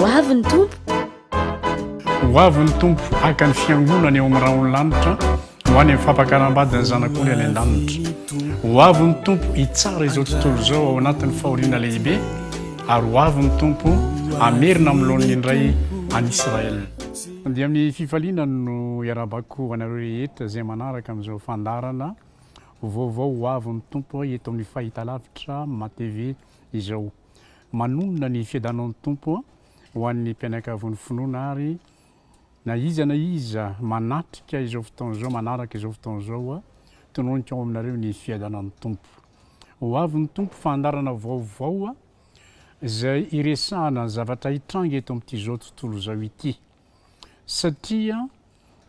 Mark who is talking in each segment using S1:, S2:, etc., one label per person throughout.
S1: Ho avy ny Tompo.
S2: Ho avy ny Tompo haka ny fiangonany eo amin'ny rahon'ny lanitra ho any amin'ny fampakaram-badin'ny zanak'ondry any an-danitra. Ho avy ny Tompo hitsara izao tontolo izao ao anatin'ny fahoriana lehibe ary ho avy ny Tompo hamerina amin'ny laoniny indray an'i Israël. Dia amin'ny fifaliana no iarahabako anareo rehetra izay manaraka amin'izao fandaharana vaovao ho avy ny Tompo eto amin'ny fahitalavitra Matv izao. Manonona ny fiadanan'ny Tompo ho an'ny mpianakavon'ny finoana ary na iza na iza manatrika izao fotoana izao, manaraka izao fotoana izao, tononiko ao aminareo ny fiadanan'ny Tompo. Ho avy ny Tompo, fandarana vaovao izay iresahana ny zavatra hitranga eto amin'ity izao tontolo izao ity. Satria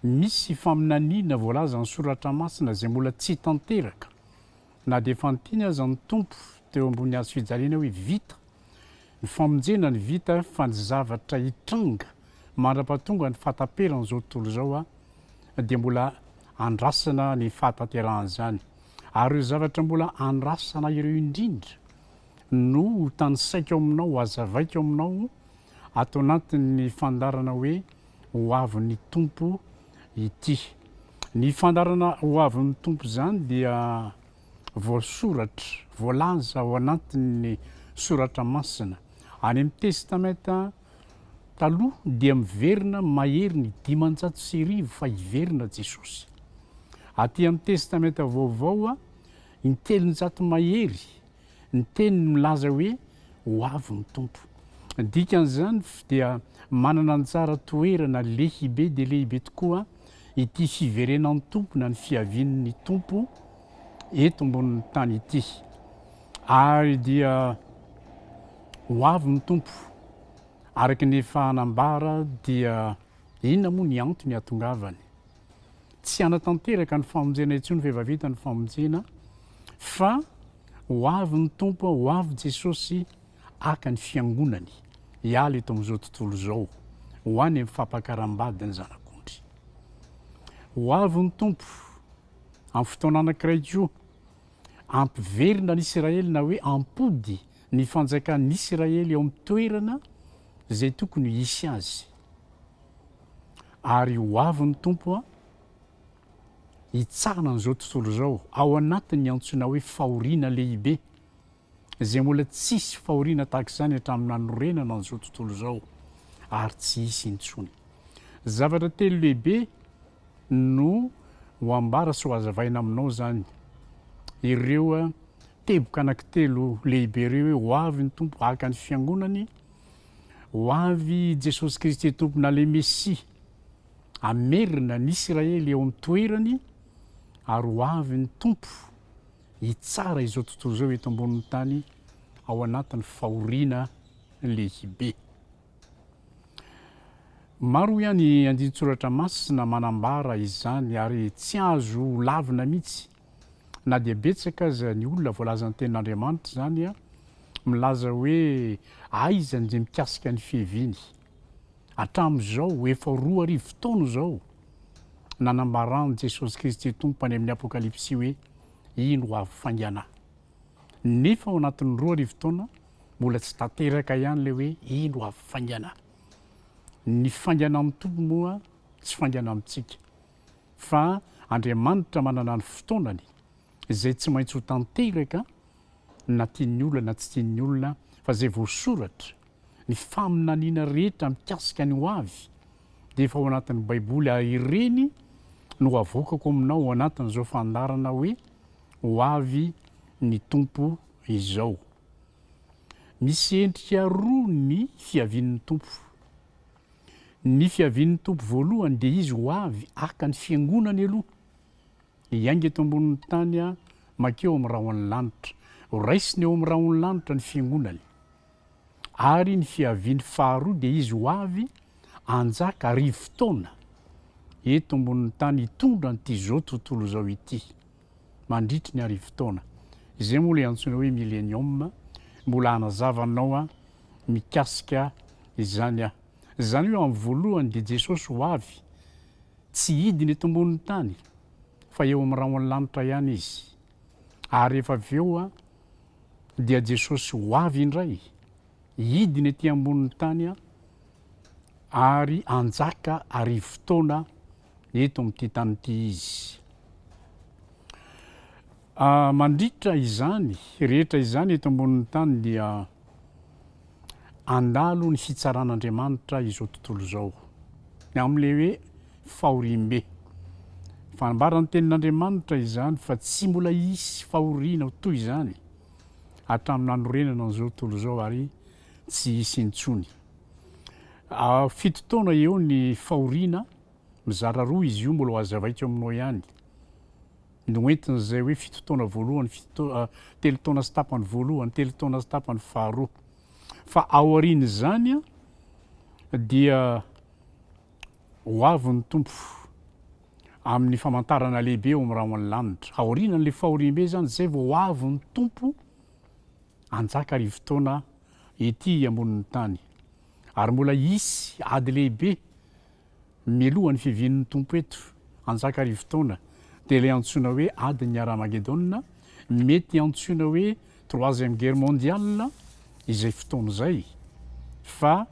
S2: misy faminaniana voalazan'ny Soratra Masina izay mbola tsy tanteraka. Na dia efa niteny aza ny Tompo teo ambony hazo fijaliana hoe vita ny famonjena ny vita fa ny zavatra hitranga mandrapatonga ny fahataperan'izao tontolo izao dia mbola andrasana ny fahatanterahan'izany ary ireo zavatra mbola andrasana ireo indrindra no ho tanisaiko aminao, hazavaiko aminao ato anatin'ny fandarana hoe ho avin'ny Tompo ity. Ny fandaharana ho avin'ny Tompo izany dia voasoratra, voalaza ao anatin'ny Soratra Masina. Any amin'ny Testamenta Taloha dia miverina mahery ny dimanjato sy arivo fa hiverina Jesosy. Aty amin'ny Testamenta Vaovao, intelonjato mahery Ny teniny milaza hoe, Ho avy ny Tompo. Ny dikan'izany dia manana anjara toerana lehibe dia lehibe tokoa ity fiverenan'ny Tompo na ny fiavian'ny Tompo eto ambonin'ny tany ity. Ary dia ho avy ny Tompo. Araka ny efa nambara dia inona moa ny antony hahatongavany? tsy hanatanteraka ny famonjena intsony fa efa vita ny famonjena fa ho avy ny Tompo ho avy Jesosy haka ny fiangonany hiala eto amin'izao tontolo izao ho any amin'ny fampakaram-bady ny zanak'ondry ho avy ny Tompo amin'ny fotoana anankiray koa ampiverina ny Israely na hoe ampody ny fanjakan'ny Israely eo amin'ny toerana izay tokony hisy azy Ary ho avy ny Tompo hitsahana an'izao tontolo izao ao anatin'ny antsoina hoe fahoriana lehibe, izay mbola tsy hisy fahoriana tahaka izany hatramin'ny nanorenana an'izao tontolo izao ary tsy hisy intsony. Zavatra telo lehibe no ho ambara sy ho azavaina aminao izany, ireo teboka anankitelo lehibe ireo hoe ho avy ny Tompo haka ny fiangonany Ho avy i Jesosy Kristy Tompona le Mesia. Hamerina ny Isiraely eo amin'ny toerany ary ho avy ny Tompo hitsara izao tontolo izao eto ambonin'ny tany ao anatin'ny fahoriana lehibe. Maro ihany andinin-tsoratra masina manambara izany ary tsy azo ho lavina mihitsy Na dia betsaka aza ny olona voalazan'ny Tenin'Andriamanitra izany, milaza hoe aiza ny dia mikasika ny fiheviany. Hatramin'izao, ho efa roa arivo taona izao, nanambaran'i Jesosy Kristy Tompo any amin'ny Apokalypsy hoe, Iny ho avy faingana. Nefa ao anatin'ny roa arivo taona, mbola tsy tanteraka ihany ilay hoe iny ho avy faingana. Ny faingana amin'ny Tompo moa tsy faingana amintsika. fa Andriamanitra manana ny fotoanany izay tsy maintsy ho tanteraka na tian'ny olona na tsy tian'ny olona fa izay voasoratra, ny faminaniana rehetra mikasika ny ho avy dia efa ao anatin'ny baiboly ary ireny no avoakako aminao ao anatin'izao fandarana hoe ho avy ny Tompo izao. Misy endrika roa ny fiavian'ny Tompo. Ny fiavian'ny Tompo voalohany dia Izy ho avy haka ny Fiangonany aloha, hiainga eto ambonin'ny tany a mankeo amin'ny rahon'ny lanitra, ho raisiny eo amin'ny rahon'ny lanitra ny Fiangonany. Ary ny fiaviany faharoa dia Izy ho avy hanjaka arivo taona eto ambonin'ny tany hitondra an'ity izao tontolo izao ity. mandritry ny arivo taona. Izay moa ilay antsoina hoe Millenium, mbola hanazava anao aho mikasika izany aho. Izany hoe amin'ny voalohany dia Jesosy ho avy, tsy hidina eto ambonin'ny tany fa eo amin'ny rahon'ny lanitra ihany izy. Ary rehefa avy eo dia Jesosy ho avy indray, hidina ety ambonin'ny tany ary hanjaka arivo taona eto amin'ity tany ity izy. Mandritra izany rehetra izany eto ambonin'ny tany dia handalo ny fitsaran'Andriamanitra izao tontolo izao, ny amin'ilay hoe fahoriam-be. Fanambara ny tenin'Andriamanitra izany fa tsy mbola hisy fahoriana toy izany hatramin'ny nanorenana an'izao tontolo izao ary tsy hisy intsony. Fito taona eo ny fahoriana, mizara roa izy io, mbola ho hazavaiko aminao ihany ny ho entin'izay hoe fito taona voalohany, telo taona sy tapany voalohany, telo taona sy tapany faharoa. Fa aorian'izany dia ho avy ny tompo amin'ny famantarana lehibe eo amin'ny rahon'ny lanitra. Aorianan'ilay fahoriambe izany, izay vao ho avy ny tompo hanjaka arivo taona ety ambonin'ny tany, ary mbola hisy ady lehibe mialoha ny fivian'ny Tompo eto anjaka arivo taona, dia ilay antsoina hoe adin'ny Haramagedona, mety antsoina hoe troisième guerre mondiale izay fotoana izay, fa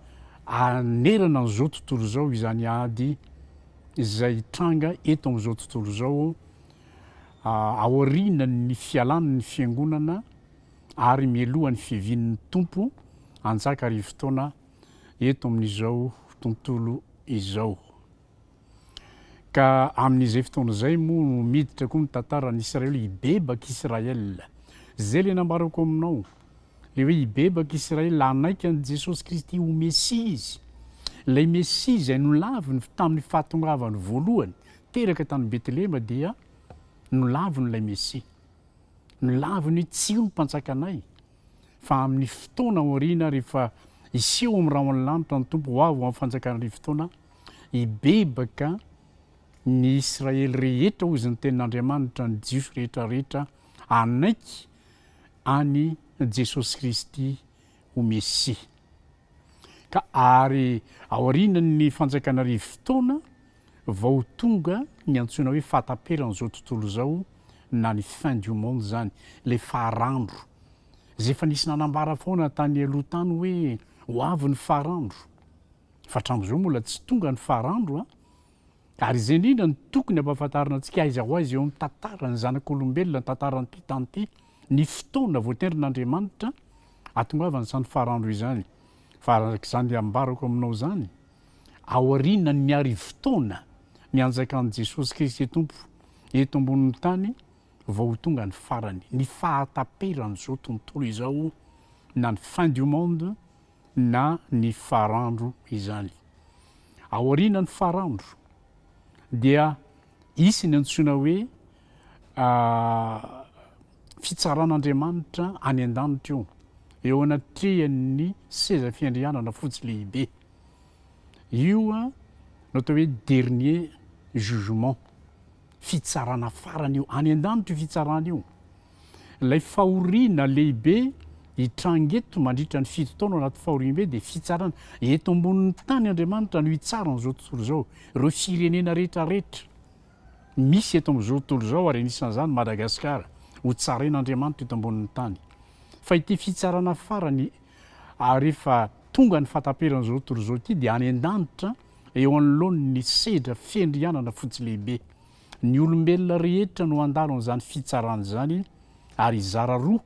S2: hanerana an'izao tontolo izao izany ady izay hitranga eto amin'izao tontolo izao aorianan'ny fialan'ny Fiangonana ary mialoha ny fivian'ny Tompo hanjaka arivo taona eto amin'izao tontolo izao. Ka amin'izay fotoana izay moa no miditra koa ny tantaran'i Israely, hibebaka Israel. Izay ilay nambarako aminao, ilay hoe hibebaka Israel, hanaiky an'i Jesosy Kristy ho Mesia izy. Ilay Mesia izay nolaviny tamin'ny fahatongavany voalohany, teraka tany Betlehema dia nolaviny ilay Mesia. Milavo ny tsiho ny Mpanjakanay, fa amin' ny fotoana aoriana rehefa hiseho amin' ny rahon' ny lanitra ny Tompo ho avy ho amin' ny Fanjakan' ny Arivotaona, hibebaka ny Israely rehetra, hoy izany tenin' Andriamanitra, ny Jiosy rehetra rehetra hanaiky an' i Jesosy Kristy ho Mesia. Ka ary aorianan' ny Fanjakan' ny Arivotaona Vao tonga ny antsoina hoe fahataperan'izao tontolo izao na ny fin du monde izany, ilay faharandro. Izay efa nisy nanambara foana tany aloha tany hoe ho avy ny faharandro. Fa hatramin'izao mbola tsy tonga ny faharandro an! Ary izay indrindra no tokony hampahafantarina antsika aiza ho aiza eo amin'ny tantaran'ny zanak'olombelona, ny tantaran'ny mpitanty, ny fotoana voatendrin'Andriamanitra hahatongavan'izany faharandro izany. Fa araka izany ambarako aminao izany, aorianan'ny arivo taona nianjakan'i Jesosy Kristy Tompo eto ambonin'ny tany vao ho tonga ny farany, ny fahataperan'izao tontolo izao na ny fin du monde na ny farandro izany. Aorianan'ny farandro dia hisy ny antsoina hoe fitsaran'Andriamanitra any an-danitra io, eo anatrehan'ny seza fiandrianana fotsy lehibe. Io no atao hoe dernier jugement, fitsarana farany io, any an-danitra io fitsarana io. Ilay fahoriana lehibe hitranga eto mandritra ny fito taona anaty fahoriambe dia fitsarana. Eto ambonin'ny tany Andriamanitra no hitsara an'izao tontolo izao, ireo firenena rehetra rehetra. misy eto amin'izao tontolo izao ary anisan'izany Madagasikara ho tsarain'Andriamanitra eto ambonin'ny tany. Fa ity fitsarana farany ary rehefa tonga ny fahataperan'izao tontolo izao ity dia any an-danitra eo anoloan'ny sedra fiandrianana fotsy lehibe. Ny olombelona rehetra no handalo an'izany fitsarana izany ary hizara roa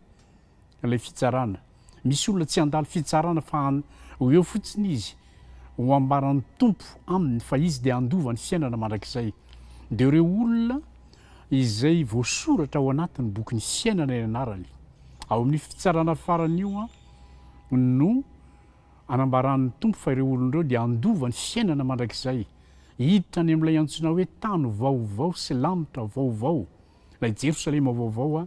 S2: ilay fitsarana. Misy olona tsy handalo fitsarana fa an ho eo fotsiny izy ho ambaran'ny Tompo aminy fa izy dia handova ny fiainana mandrakizay. Dia ireo olona izay voasoratra ao anatin'ny bokin'ny fiainana ny anarany. Ao amin'io fitsarana farany io an no anambaran'ny Tompo fa ireo olona ireo dia handova ny fiainana mandrakizay, hiditra any amin'ilay antsoina hoe tany vaovao sy lanitra vaovao. Ilay Jerosalema vaovao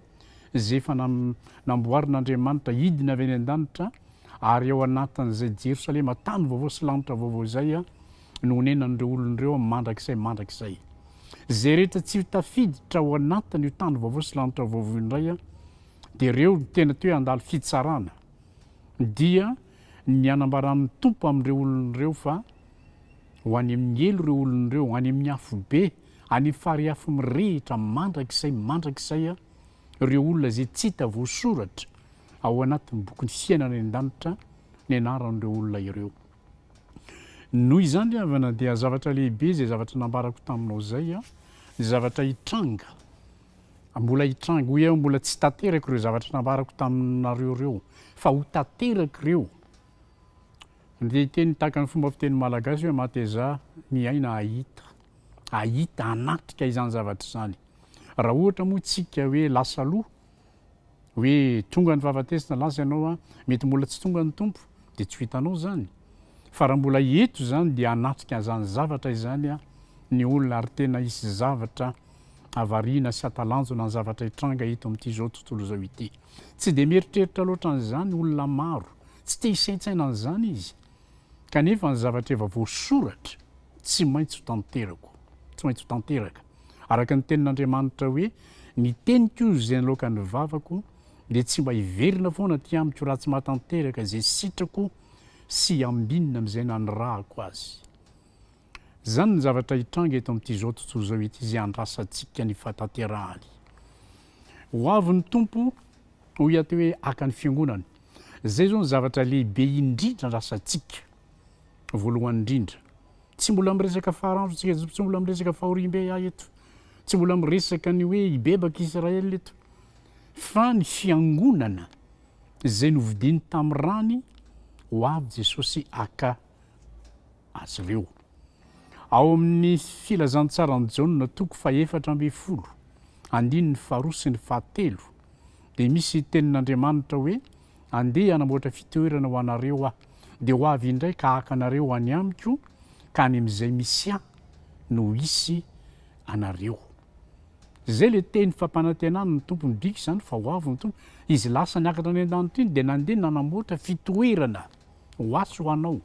S2: izay efa namboarin'Andriamanitra hidina avy any an-danitra, ary ao anatin'izay Jerosalema tany vaovao sy lanitra vaovao izay no honenan'ireo olony ireo mandrakizay mandrakizay. Izay rehetra tsy ho tafiditra ao anatin'io tany vaovao sy lanitra vaovao io indray dia ireo no tena toe handalo fitsarana. Dia ny anambaran'ny Tompo amin'ireo olony ireo fa ho any amin'ny helo ireo olony ireo, ho any amin'ny afobe, Any fariafy mirehitra mandrakizay mandrakizay ireo olona izay tsy hita voasoratra ao anatin'ny bokin'ny fiainana any an-danitra ny anaran'ireo olona ireo. Noho izany ry havana dia zavatra lehibe izay zavatra nambarako taminao izay, ny zavatra hitranga, mbola hitranga, hoy aho mbola tsy tanteraka ireo zavatra nambarako taminareo ireo fa ho tanteraka ireo. Ny teny tahaka ny fomba fiteny malagasy hoe matezà miaina hahita. hahita hanatrika izany zavatra izany. Raha ohatra moa isika hoe lasa aloha, hoe tonga ny fahafatesana, lasa ianao an, mety mbola tsy tonga ny Tompo, dia tsy ho hitanao izany. Fa raha mbola eto izany dia hanatrika izany zavatra izany an, ny olona ary tena hisy zavatra havariana sy hatalanjona ny zavatra hitranga eto amin'ity izao tontolo izao ity. Tsy dia mieritreritra loatra an'izany olona maro, tsy te hisaintsaina an'izany izy. Kanefa ny zavatra efa voasoratra tsy maintsy ho tanterako, tsy maintsy ho tanteraka. Araka ny tenin'Andriamanitra hoe, Ny teniko izay niloaka ny vavako dia tsy mba hiverina foana aty amiko raha tsy mahatanteraka izay sitrako sy ambinina amin'izay nanirahako azy. Izany ny zavatra hitranga eto amin'itizao tontolo izao ity izay andrasantsika ny fahatanterahany. Ho avy ny Tompo, hoy ato hoe haka ny fiangonany. Izay izao no zavatra lehibe indrindra andrasantsika, voalohany indrindra. Tsy mbola miresaka Farao, tsy mbola miresaka fahoriambe aho eto, tsy mbola miresaka ny hoe hibebaka i Israël eto, fa ny fiangonana izay novidiany tamin'ny rany, ho avy Jesosy haka azy ireo. Ao amin'ny Filazantsaran'i Jaona toko fahefatra ambin'ny folo, andininy faharoa sy ny fahatelo, dia misy tenin'Andriamanitra hoe, Andeha hanamboatra fitoerana ho anareo Aho, dia ho avy indray ka haka anareo any Amiko, ka any amin'izay misy Ahy no hisy anareo. Izay ilay teny fampanantenan'ny Tompo, midika izany fa ho avy ny Tompo. Izy lasa niakatra any an-danitra iny dia nandeha nanamboatra fitoerana. ho atsy ho anao,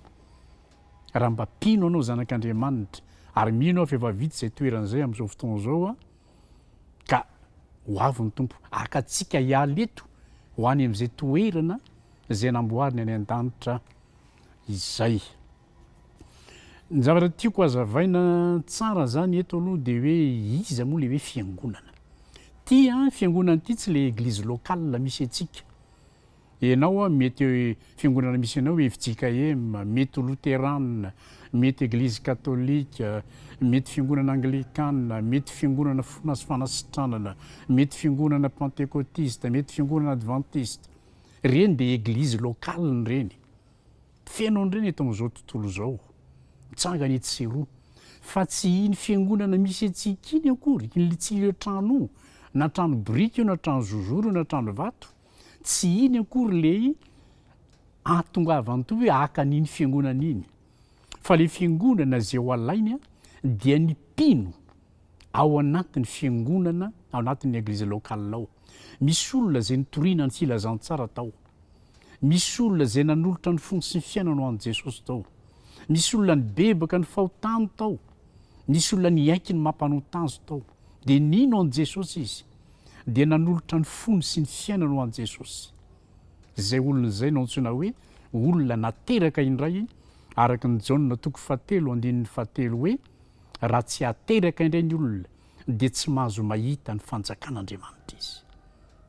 S2: raha mba mpino anao zanak'Andriamanitra, ary mino aho fa efa vita izay toerana izay amin'izao fotoana izao an, ka ho avy ny Tompo haka antsika hiala eto ho any amin'izay toerana izay namboariny any an-danitra izay. Ny zavatra tiako hazavaina tsara izany eto aloha dia hoe iza moa ilay hoe fiangonana. Ity an, fiangonana ity tsy ilay eglizy locale misy antsika, Enao an mety eo fiangonana misy anao fjkm, mety loterana, mety eglizy katolika, mety fiangonana anglikana, mety fiangonana fona sy fanasitranana, mety fiangonana pantekotista, mety fiangonana advantista. Reny dia eglizy locale reny. Feno an'ireny eto amin'izao tontolo izao. Mitsangana etsy sy eroa. Fa tsy iny fiangonana misy antsika iny akory, ilay tsy ilay trano na trano biriky io na trano zozoro io na trano vato. Tsy iny akory ilay ahatongavan-toa hoe haka an'iny fiangonana iny, fa ilay fiangonana izay ho alainy dia ny mpino ao anatin'ny fiangonana, ao anatin'ny eglise locale ao. Misy olona izay nitoriana ny filazantsara tao, misy olona izay nanolotra ny fony sy ny fiainany ho an'i Jesosy tao, misy olona nibebaka ny fahotany tao, misy olona niaiky ny maha mpanota azy tao, dia nino an'i Jesosy izy. dia nanolotra ny fony sy ny fiainany ho an'i Jesosy. Izay olona izay no antsoina hoe olona nateraka indray, araka ny Jaona toko fahatelo andininy fahatelo hoe, Raha tsy ateraka indray ny olona, dia tsy mahazo mahita ny fanjakan'Andriamanitra izy.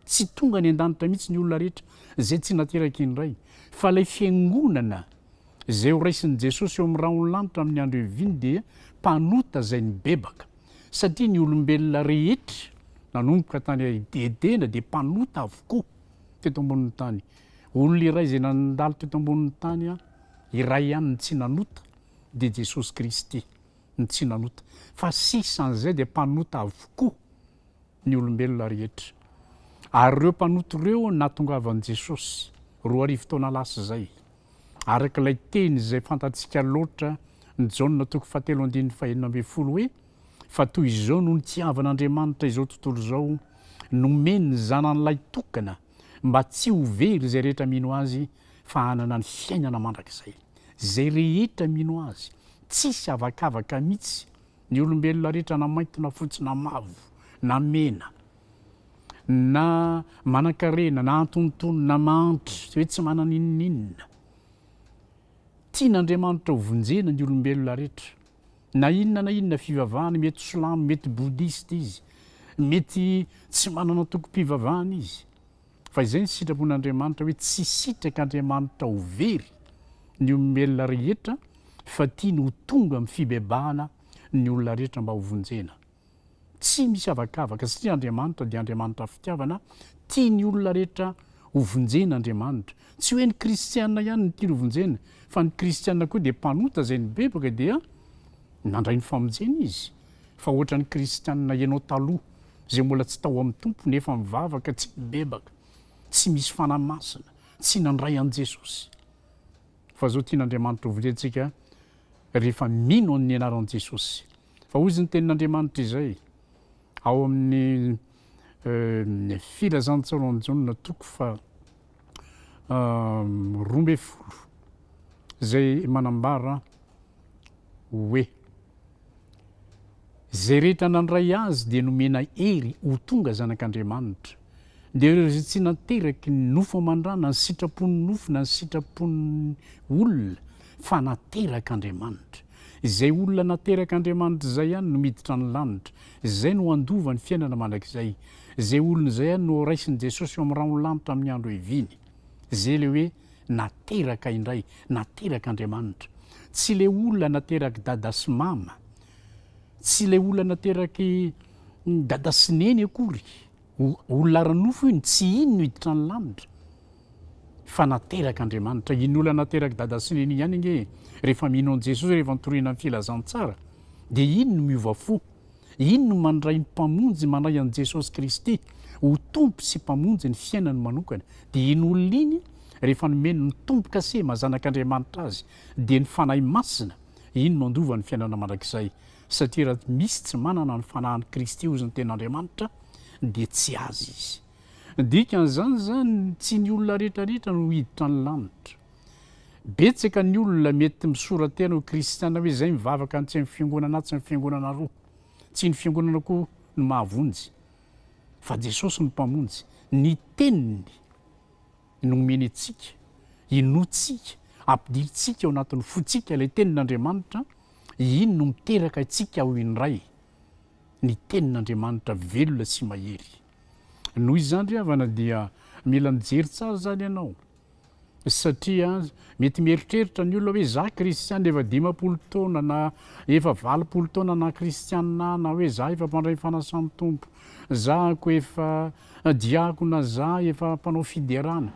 S2: Tsy tonga any an-danitra mihitsy ny olona rehetra izay tsy nateraka indray, fa ilay fiangonana, Izay ho raisin'i Jesosy eo amin'ny rahon'ny lanitra amin'ny andro ihaviany dia mpanota izay nibebaka, satria ny olombelona rehetra nanomboka tany Edena dia mpanota avokoa teto ambonin'ny tany. Olona iray izay nandalo teto ambonin'ny tany iray ihany no tsy nanota, dia Jesosy Kristy no tsy nanota. Fa sisa an'izay dia mpanota avokoa ny olombelona rehetra. Ary ireo mpanota ireo nahatongavan'i Jesosy, roa arivo taona lasa izay, Araka ilay teny izay fantatsika loatra ny Jaona toko fahatelo andininy fahenina ambin'ny folo hoe, Fa toy izao no nitiavan' Andriamanitra izao tontolo izao, nomeny ny Zanany lahitokana, mba tsy ho very izay rehetra mino Azy, fa hanana ny fiainana mandrakizay. Izay rehetra mino Azy. Tsisy avakavaka mitsy, ny olombelona rehetra na mainty na fotsy na mavo na mena. na manankarena, na antonontonony, na mahantra, tsy hoe tsy manana inoninona. Tian'Andriamanitra ho vonjena ny olombelona rehetra. Na inona na inona fivavahana, mety silamo, mety bodista izy, mety tsy manana antokom-pivavahana izy, fa izay ny sitrapon'Andriamanitra hoe tsy sitraka Andriamanitra ho very ny olombelona rehetra fa tiany ho tonga amin'ny fibebahana ny olona rehetra mba ho vonjena. Tsy misy avakavaka satria Andriamanitra dia Andriamanitra fitiavana, tia ny olona rehetra ho vonjena Andriamanitra. Tsy hoe ny kristiana ihany no tiany ho vonjena fa ny kristiana koa dia mpanota izay nibebaka dia nandray ny famonjena izy. Fa ohatran'ny kristiana ianao taloha izay mbola tsy tao amin'ny Tompo nefa mivavaka tsy nibebaka, tsy misy fanahy masina, tsy nandray an'i Jesosy. Fa izao tian'Andriamanitra ho vonjentsika rehefa mino amin'ny anaran'i Jesosy. Fa hoy izy ny tenin'Andriamanitra izay ao amin'ny Filazantsaonan'i Jaona toko faha roa ambin'ny folo izay manambara hoe izay rehetra nandray azy dia nomena hery ho tonga zanak'Andriamanitra dia ireo izay tsy nateraky ny nofo aman-drana, ny sitrapon'ny nofo na ny sitrapon'ny olona fa naterak'Andriamanitra. Izay olona naterak' Andriamanitra izay ihany no miditra ny lanitra. Izay no handova ny fiainana mandrakizay. Izay olona izay ihany no horaisin'i Jesosy eo amin'ny rahon'ny lanitra amin'ny andro heviany. Izay ilay hoe nateraka indray, naterak' Andriamanitra. Tsy ilay olona naterak' dada sy mama. Tsy ilay olona naterak' dada sy neny akory. Olona ara-nofo io no tsy hino ny hiditra ny lanitra fa naterak' Andriamanitra. Iny olona naterak' dada sy neny ihany ange rehefa mino an'i Jesosy rehefa nitoriana ny filazantsara dia iny no miova fo, iny no mandray ny Mpamonjy, mandray an'i Jesosy Kristy ho Tompo sy Mpamonjy ny fiainany manokana. Dia iny olona iny rehefa nomeny ny Tompo kase maha zanak' Andriamanitra azy dia ny Fanahy Masina iny no andovany ny fiainana mandrakizay. Satria raha tsy misy tsy manana ny fanahin'i Kristy ho izy ny Tenin'Andriamanitra, dia tsy azy izy. Ny dikan'izany izany, tsy ny olona rehetrarehetra no hiditra ny lanitra. Betsaka ny olona mety misora-tena ho kristiana hoe izay mivavaka ny tsy amin'ny fiangonana A tsy ny fiangonana roa. Tsy ny fiangonana koa no mahavonjy, fa Jesosy no Mpamonjy, ny Teniny. nomentsika, inoantsika, ampidirintsika ao anatin'ny fontsika ilay Tenin'Andriamanitra, iny no miteraka antsika ho indray ny Tenin'Andriamanitra velona sy mahery. Noho izany ry havana dia mila mijery tsara izany ianao, satria mety mieritreritra ny olona hoe za kristiana efa dimampolo taona na efa valopolo taona na kristiana aho na hoe za efa mpandray ny fanasan'ny Tompo Za ko efa diakona za efa mpanao fiderana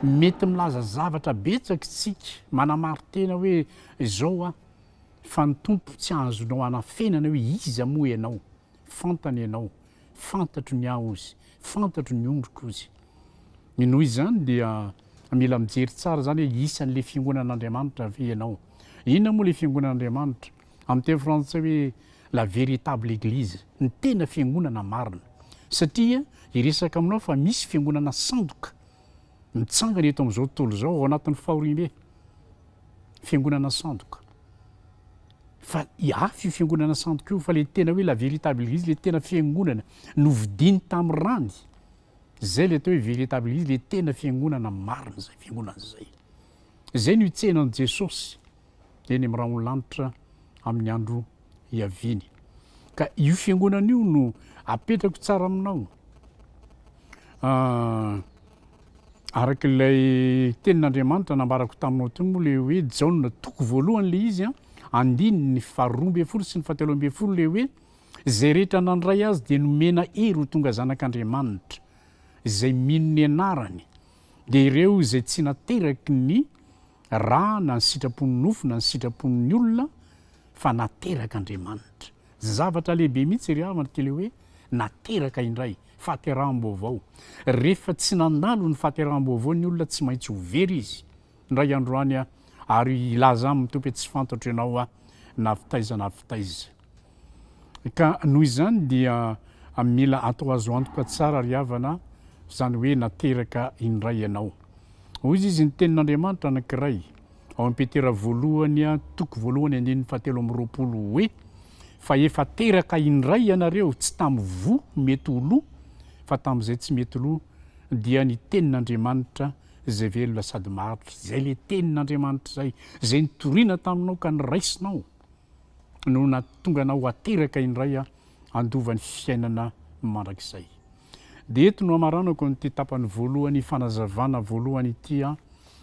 S2: mety milaza zavatra betsak tsika manamaritena hoe zao a fa ny tompo tsy azonao anafenana hoe iza moa enao fantany enao fantatro ny aho ozy fantatro ny ondriko ozy ny noho izany dia mila mijery tsara zany hoe isanle fiangonan Andriamanitra ve enao inona moa le fiangonan Andriamanitra Amin'ny teny frantsay hoe la véritable église, ny tena fiangonana marina. Satria hiresaka aminao fa misy fiangonana sandoka mitsangana eto amin'izao tontolo izao ao anatin'ny fahoriambe. Fiangonana sandoka. Fa hafa io fiangonana sandoka io fa ilay tena hoe la véritable église, ilay tena fiangonana novidiany tamin'ny rany. Izay ilay atao hoe véritable église, ilay tena fiangonana marina izay fiangonana izay. izay no hitsehanan'i Jesosy eny amin'ny rahon'ny lanitra amin'ny andro hiaviany. Ka io fiangonana io no apetrako tsara aminao. Ah, araka ilay tenin'Andriamanitra nambarako taminao teo moa le hoe Jaona toko voalohany le izy an, andininy faharoa ambin'ny folo sy ny fahatelo ambin'ny folo le hoe izay rehetra nandray azy dia nomena hery ho tonga zanak'Andriamanitra, izay mino ny anarany. dia ireo izay tsy nateraky ny ra na ny sitrapon'ny nofo na ny sitrapon'ny olona fa naterak'Andriamanitra. Zavatra lehibe mihitsy ry havana ity le hoe nateraka indray, fahateraham-baovao. Rehefa tsy nandalo ny fahateraham-baovao ny olona tsy maintsy ho very izy. Indray andro any aho, ary hilaza aminy Tompo hoe tsy fantatro ianao aho na avy taiza na avy taiza. Ka noho izany dia mila atao azo antoka tsara ry havana izany hoe nateraka indray ianao. Hoy izy ny tenin'Andriamanitra anankiray ao amin'i Petera voalohany toko voalohany andininy fahatelo amby roapolo hoe, fa efa teraka indray ianareo tsy tamin'ny voa mety ho lo fa tamin'izay tsy mety lo dia ny tenin'Andriamanitra Izay velona sady maharitra, izay ilay Tenin'Andriamanitra izay, izay nitoriana taminao ka niraisinao, no nahatonga anao hateraka indray handova ny fiainana mandrakizay. Dia eto no hamaranako an'ity tapany voalohany fanazavana voalohany ity,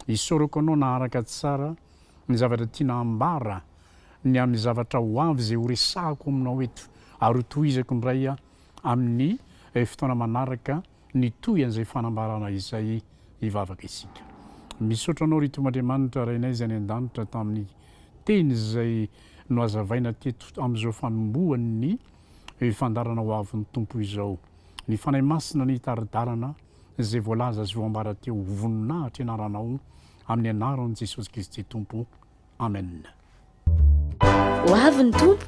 S2: isaorako anao naharaka tsara ny zavatra tiana hambara ny amin'ny zavatra ho avy izay horesahako aminao eto, ary hotohizako indray amin'ny fotoana manaraka. Nitohy an'izay fanambarana izay hivavaka isika. Misaotra Anao ry Tompo Andriamanitra Rainay izay any an-danitra tamin'ny teny izay nohazavaina teto amin'izao fanombohan'ny fandaharana ho avin'ny Tompo izao. Ny Fanahy Masina no hitari-dalana izay voalaza sy voambara teo. Voninahitra ianaranao amin'ny anaran'i Jesosy Kristy Tompo. amen
S1: ho avy ny tompo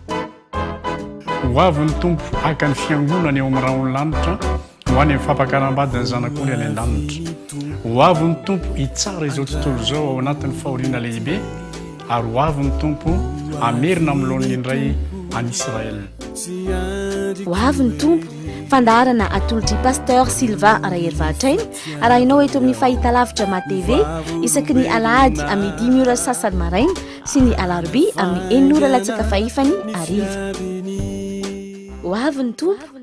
S2: ho avy ny tompo haka ny fiangonana eo amin'ny rahony lanitra ho any amin'ny fampakarambadin'ny zanak'oly any an-danitra ho avy ny tompo hitsara izao tontolo izao ao anatin'ny fahoriana lehibe ary ho avy ny tompo amerina amin'ny laoniny indray any israel
S1: ho avy ny tompo fandaharana atolotr'i pasteur sylvain rahery vahatraina Arahinao eto amin'ny Fahitalavitra Ma TV isaky ny Alahady amin'ny dimy ora sasany maraina sy ny Alarobia amin'ny enina ora latsaka fahefany hariva. Ho avy ny Tompo!